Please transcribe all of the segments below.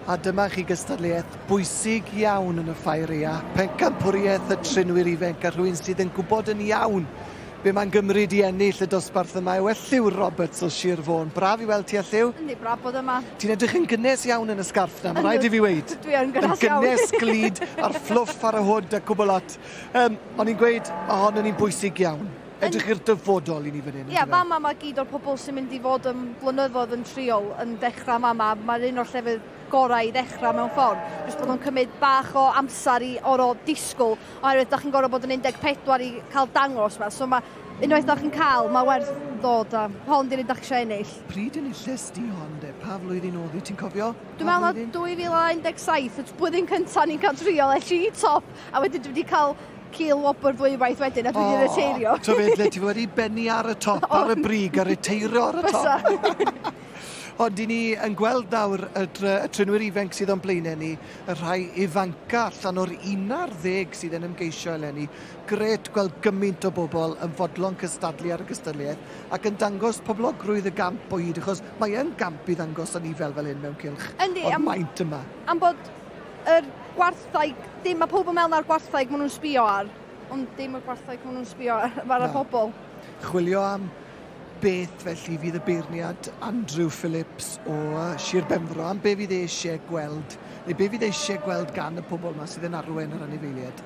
A dyma chi gystadleuaeth bwysig iawn yn y Ffaeria, pencampwriaeth y trinwyr ifenc a rhywun sydd yn gwybod yn iawn be mae'n gymryd i ennill y dosbarth yma yw Elliw Roberts o Sir Fôn. Braf i weld ti Elliw. Yndi, braf bod yma. Ti'n edrych yn gynnes iawn yn y sgarff na, mae rhaid i fi weid. Dwi yn gynnes iawn. Yn gynnes glid a'r fflwff ar y hwd a cwbl lot. Um, o'n i'n gweud, ohonyn ni'n bwysig iawn. Edrych i'r dyfodol i ni fan hyn. Ie, yeah, fama mae gyd o'r pobl sy'n mynd i fod yn blynyddoedd yn triol yn dechrau fama. Mae'r un o'r llefydd gorau i ddechrau mewn ffordd. Jyst bod nhw'n cymryd bach o amser i oro disgwyl, oherwydd da chi'n gorfod bod yn 14 i cael dangos yma. So mae unwaith da chi'n cael, mae werth dod a hon di'r un da chi eisiau ennill. Pryd yn y llys di hon de? Pa flwyddyn oedd i ti'n cofio? Dwi'n meddwl na 2017, y blwyddyn cyntaf ni'n cael triol, es i top, a wedyn dwi wedi cael Cil wobr ddwywaith wedyn a dwi wedi reteirio. O, ti'n le ti wedi benni ar y top ar y brig a reteiro ar y top. Bysa. Ond i ni yn gweld nawr y, dr- y trinwyr ifanc sydd o'n blaenau ni, y rhai ifanca allan o'r unar ddeg sydd yn ymgeisio eleni. Gret gweld gymaint o bobl yn fodlon cystadlu ar y gystadleuaeth ac yn dangos poblogrwydd y gamp o hyd, achos mae yn gamp i ddangos anifail fel hyn mewn cylch Yndi, o'r maint yma. Am bod Yr gwartheg, dim, mae pobl yn meddwl na'r gwartheg maen nhw'n sbio ar, ond dim y gwartheg maen nhw'n sbio ar, mae'r no. pobl. Chwilio am beth felly fydd y beirniad Andrew Phillips o Sir Benfro, am be fydd e eisiau gweld, neu be fydd e eisiau gweld gan y pobl yma sydd yn arwen yr anifeiliaid?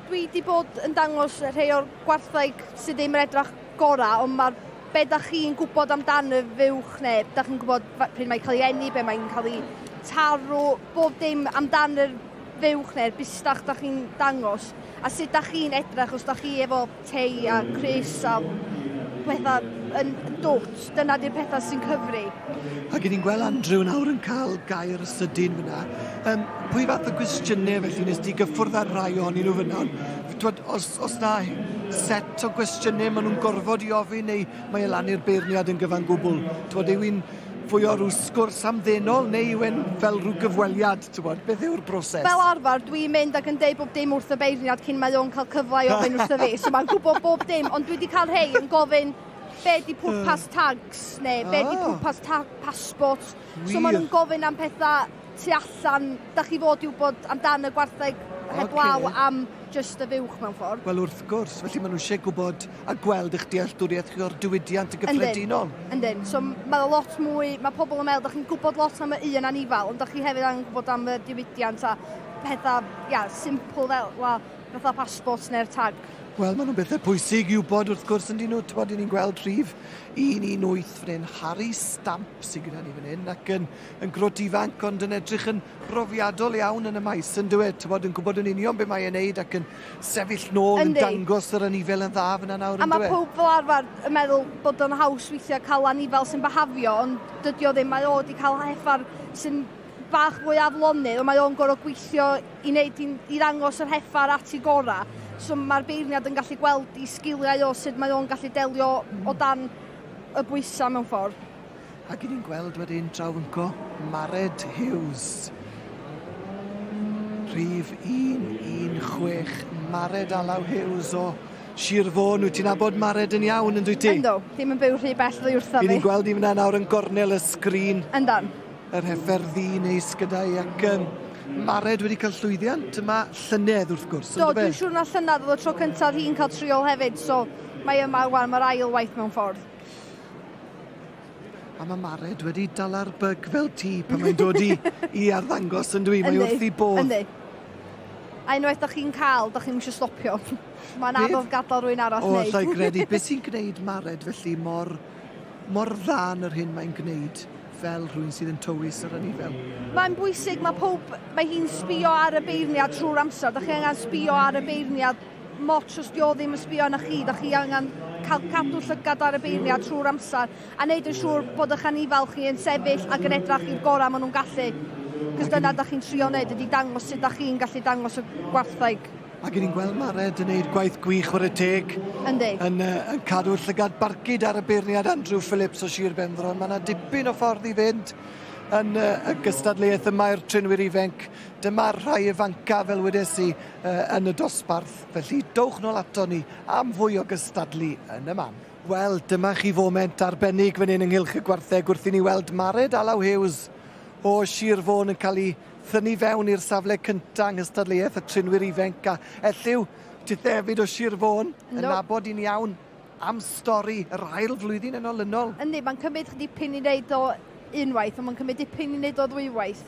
Dwi wedi bod yn dangos rhai o'r gwartheg sydd ddim yn edrych gorau, ond mae'r be da chi'n gwybod amdano fuwch neu da chi'n gwybod pryd mae'n cael ei enni, be mae'n cael ei tarw, bob dim amdano'r fuwch neu'r bustach da chi'n dangos, a sut da chi'n edrych os da chi efo te a gwres a pethau yn dwt. Dyna di'r pethau sy'n cyfri. Ac ni'n gweld Andrew nawr yn cael gair sydyn fyna. Um, pwy fath o gwestiynau felly nes di gyffwrdd ar rai ohonyn nhw fyna? Twod, os, os na set o gwestiynau maen nhw'n gorfod i ofyn neu mae e lan i'r beirniad yn gyfan gwbl? Twod, yw i'n fwy o rhyw sgwrs amddenol neu yw e'n fel rhyw gyfweliad? T'wbod, beth yw'r broses? Fel arfer, dwi'n mynd ac yn deud bob dim wrth y beirniad cyn mae o'n cael cyfle i ofyn wrtho fi, so mae'n gwybod bob dim, ond dwi 'di cael rhei yn gofyn be di pwrpas hmm. tags, neu be di ah. pwrpas ta passport. So maen nhw'n gofyn am pethau tu allan, da chi fod i wybod amdan y gwartheg heblaw okay. am just y fuwch mewn ffordd. Wel wrth gwrs, felly maen nhw eisiau gwybod a gweld eich dealltwriaeth chi o'r diwydiant yn gyffredinol. Yndyn, yndyn. So mae o lot mwy, mae pobl yn meddwl, da chi'n gwybod lot am y un anifal, ond da chi hefyd angen gwybod am y diwydiant a pethau, ia, simple fel, well, fatha passport neu'r tag. Wel, maen nhw'n bethau pwysig i'w bod wrth gwrs yn dyn nhw. Ti'n bod, ni'n gweld rhif 118 fan hyn, Harry Stamp sy'n gyda ni fan hyn, ac yn, yn grot ifanc, ond yn edrych yn brofiadol iawn yn y maes yndyw e, t'bod yn gwbod yn union be mae e'n neud ac yn sefyll nôl yn Yndi. dangos yr anifail yn dda fynna nawr A ma' yndyw e? powb fel arfer yn meddwl bod o'n haws weithiau cael anifail sy'n byhafio ond dydi o ddim, mae o 'di cael heffar sy'n bach mwy aflonydd ond mae o'n gorfod gweithio i neud i i ddangos yr heffar at ei gorau. So mae'r beirniad yn gallu gweld i sgiliau o sut mae o'n gallu delio o dan y bwysau mewn ffordd. Ac 'y ni'n gweld wedyn Trawnco Mared Hughes. Rhif 116, Mared Alaw Hughes o Sir Fôn. Wyt ti'n abod Mared yn iawn, yn dwyt ti? Ynddo, ddim yn byw rhy bell ddwy wrtho fi. Yn ni'n gweld i fyna nawr yn gornel y sgrin. Ynddo. Yr hefer ddi neis gyda i ac um, Mared wedi cael llwyddiant yma llynedd wrth gwrs. Do, dwi'n siŵr na llynedd oedd y tro cyntaf hi'n cael triol hefyd, so mae yma rwan, mae'r ail waith mewn ffordd. A mae Mared wedi dala'r byg fel ti pan mae'n dod i, i arddangos yn dwi, mae wrth i bod. Yndi. A unwaith da chi'n cael, da chi'n eisiau stopio. Mae'n anodd gadael rwy'n arall wneud. O, llai gredu, beth sy'n gwneud Mared felly mor, mor dda yn yr hyn mae'n gwneud? fel rhywun sydd yn tywys yr anifail. Mae'n bwysig, mae pob, mae hi'n sbio ar y beirniad trwy'r amser. Da chi angen sbio ar y beirniad mots os 'di o ddim yn sbio arna chi, da chi angen cael cadw llygad ar y beirniad trwy'r amser a wneud yn siŵr bod eich anifail chi yn sefyll ac yn edrach i'r gorau maen nhw'n gallu. Cos dyna da chi'n trio wneud ydy dangos sut da chi'n gallu dangos y gwartheg. Ac ni'n gweld mae Red yn neud gwaith gwych o'r y teg. Yndi. Yn, uh, yn cadw llygad barcud ar y beirniad Andrew Phillips o Sir Benfro. Mae yna dipyn o ffordd i fynd yn uh, y gystadleuaeth y mae'r trinwyr ifenc. Dyma'r rhai ifancaf fel wedes i yn y dosbarth, felly dowch nôl ato ni am fwy o gystadlu yn y man. Wel, dyma chi foment arbennig fan hyn ynghylch y gwartheg wrth i ni weld Mared Alaw Hughes o Sir Fôn yn cael ei thynu fewn i'r safle cyntaf yng nghystadleuaeth y trinwyr ifenc a ellyw Tithefyd o Sir Fôn yn nabod i'n iawn am stori yr ail flwyddyn yn olynol. Yndi, mae'n cymryd dipyn i wneud o unwaith, ond mae'n cymryd dipyn i wneud o ddwywaith.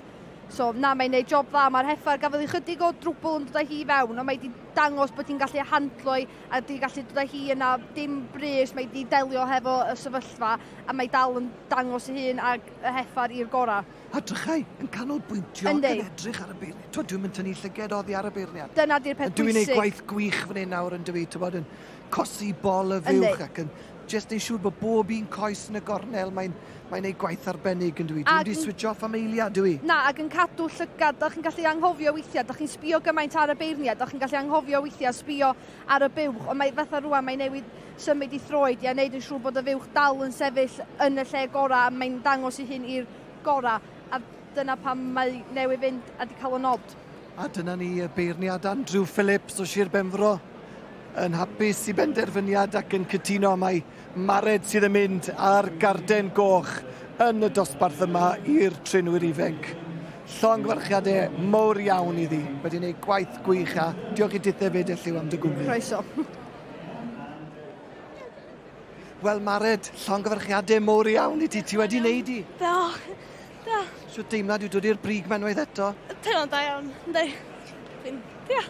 So, na, mae'n gwneud job dda. Mae'r heffair gafodd ei chydig o drwbl yn dod â hi i fewn, ond mae wedi dangos bod hi'n gallu handlo i a wedi gallu dod â hi yna dim brys. Mae wedi delio hefo y sefyllfa a mae dal yn dangos ei hun ag y heffair i'r gorau. A drychau yn canolbwyntio ac yn edrych ar y beirniad. Twyd, dwi'n mynd tynnu llyged oddi ar y beirniad. Dyna di'r peth bwysig. Dwi'n ei gwaith gwych fan hyn nawr yn dwi, tywod, yn cosi bol y fuwch ac yn jyst yn siŵr bod bob un coes yn y gornel, mae'n mae ei gwaith arbennig yn dwi. Dwi'n di switch off am eiliad, dwi. Na, ac yn cadw llygad, da chi'n gallu anghofio weithiau, da chi'n sbio gymaint ar y beirniad, da chi'n gallu anghofio weithiau sbio ar y buwch, ond mae fatha rwan, mae newid symud i throed i a wneud yn siŵr bod y fuwch dal yn sefyll yn y lle gorau, mae'n dangos i hyn i'r gorau. A Dyna pam mae newydd fynd a di cael y nod. A dyna ni y beirniad Andrew Phillips o Sir Benfro yn hapus i benderfyniad ac yn cytuno mai Mared sydd yn mynd ar garden goch yn y dosbarth yma i'r trenwyr ifenc. Llongyfarchiadau mowr iawn iddi. Wedi gwneud gwaith gwych a diolch i dithau fyd elliw am dy gwmni. Croeso. Wel Mared, llongyfarchiadau mowr iawn i ti. Ti wedi wneud i. Do. Da. Sut deimlad yw dod i'r brig ma unwaith eto? Teimlo'n da iawn, ynddi. Dwi'n, ia.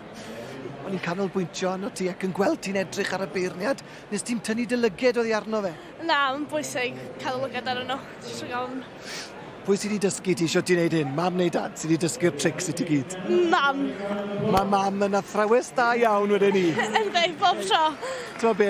O'n i'n canolbwyntio arno ti ac yn gweld ti'n edrych ar y beirniad, nes ti'n tynnu dy lyged oddi arno fe? Na, mae'n bwysig cael y lyged ar yno. Dwi'n iawn. Pwy sydd wedi dysgu ti sio ti'n neud hyn? Mam neu dad sydd wedi dysgu'r trics i ti gyd? Mam. Mae mam yn athrawes da iawn wedyn ni. Ynddi, bob tro. Ti'n be?